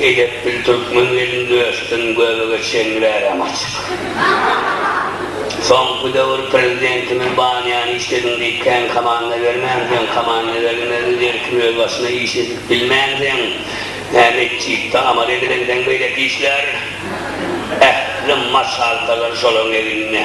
Edep bil türkmen gelin döşdin göbege çenli bärem açyk. Soňky döwür prezidentimiz banýany işlediň diýip kän komanda bermänsiň, komanda berilmezdi derkim öz başyna iş edip bilmänsiň, hä metjitde amal edilenden beýleki işler? Ähli maşgaltalary şolaryň egninde.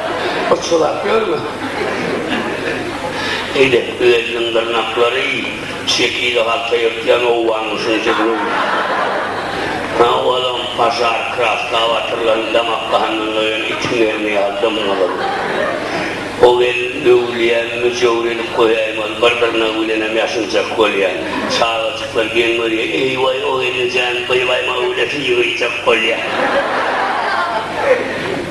Gyçylap ýörme. Eýle, özüniň dyrnaklary şekili halta ýyrtýan owganyň şunça günüň Ha, olam pažar kraska batyrylan damak gandan doýan itiň merimi ýaly dymgyzyl. O gelin öwülýän, müjewür edip goýaýmaly, bir dyrnagy bilenem ýaşynjak bolýar. Çagajyklar geň görýär, Eý-waý, o gelin jan, bylaýma öwülesi ýygyjak bolýar.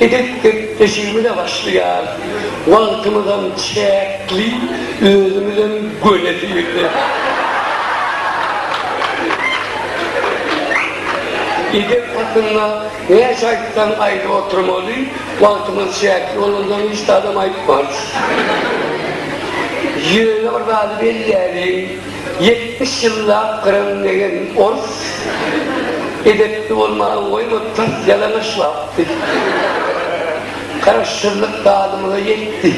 Edep gepleşigimize başlaýarys. Wagtymyzam çäkli, özümizem göni syrly. Edep hakynda näçe aýtsaň aýdyp oturmaly, wagtymyz çäkli bolansoň hiç zadam aýtmarys. Ýöne bir zady belläliň. Ýetmiş ýyllap gyran degen ors edepli bolmagy goýma tars ýalaňaç lapdy. Garaşsyzlyk dadymyza ýetdi.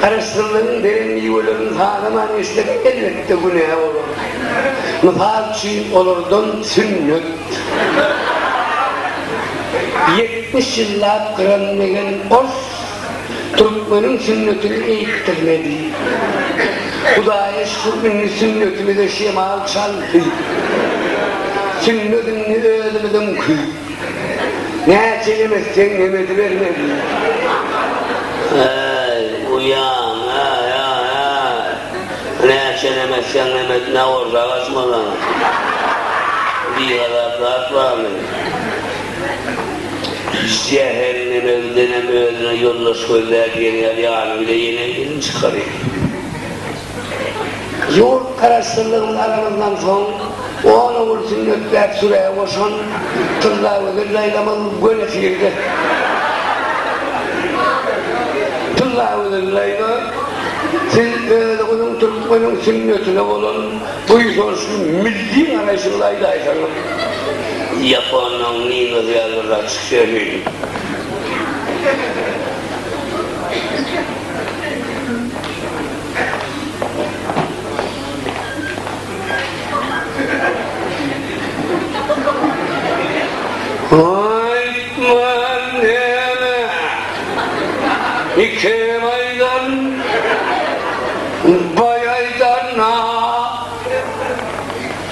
Garaşsyzlygyň beren miwelerini sanaman geçsek elbetde günä bolar. Mysal üçin olardan sünnet. Ýetmiş ýyllap gyran degen ors. Türkmeniň sünnetini eýikdirmedi. Hudaýa şükür indi sünnetimize şemal çaldy. Sünnet indi özümiziňki. Näçe emizseň emizibermeli. Äý, uýam, äý, äý, äý. Näçe emizseň emiz, ne bolsa agaçmylaň. Bigazap zat barmy? Jähenneme gidenem özüne ýoldaş gözläp ýerýär, ýany bile ýene elini çykarýar. Ýurt Garaşsyzlygyny alanymyzdan soň on ogul sünnetläp sürä goşan Tyllagözel daýzamyz göni tirde. Tyllagözel daýza, siz özüňiziň türkmeniň sünnetine bolan. Buýsançly milli garaýşyňyzy aýdaýsaňyz. Ýaponyň Ninosi ýalyrak çykýaryn. Aýtman näme? Iki aýdan baý aýdanyna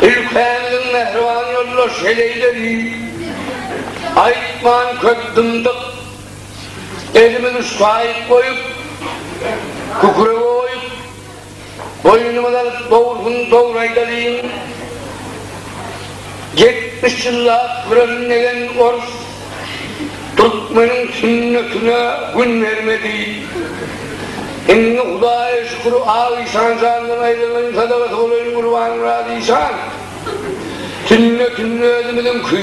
ülkäniň mähriban ýoldaş heleýleri aýtman köp dymdyk. Elimiz uçgaýyk goýup, kükre goýup. Boýnuňyz alyp dogrusyny dogry aýdalyň. Ýetmiş ýyllap gürrüňlegen orus türkmeniň sünnetine gün bermedi. Indi Hudaýa şükür Ak işan jandan aýrylaýyn sadagasy bolaýyn Gurbanmyrat işan. Sünnetini özümiziňki.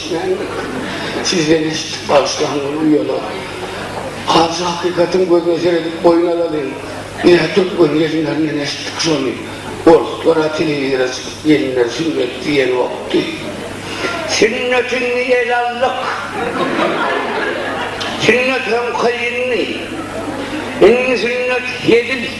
Men sizden eşitdik bagyşlaň ol uýalar. Ajy hakykatyň gözüne seredip boýun alalyň. Nä türkmen gelinlerinden eşitdik şony. Orslara telewizora çykyp gelinler sünnet diýenokdy. Sünnetindi el aldyk. Sünnet hem kyndy. Indi sünnet hezil.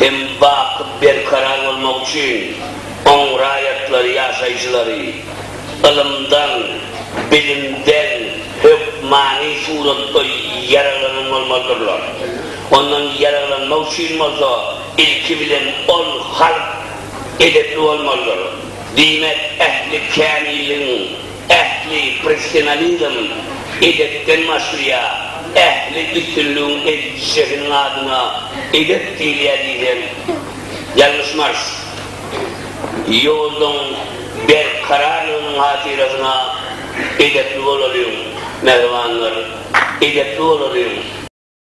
hem bakyp berkarar bolmak üçin oň raýatlary, ýaşaýjylary ylymdan, bilimden hökmany suratda ýaraglanan bolmalydyrlar. Ondan ýaraglanmak üçin bolsa ilki bilen ol halk edepli bolmalydyr. Diýmek, ähli kämilligiň. ähli professionalizm, edepden başlaýar, ähli üstünligiň eziz şehiniň adyna edep diýilýär diýsem, ýalňyşmarys. Ýoluň berkararlygynyň hatyrasyna edepli bolalyň, mähribanlar, edepli bolalyň!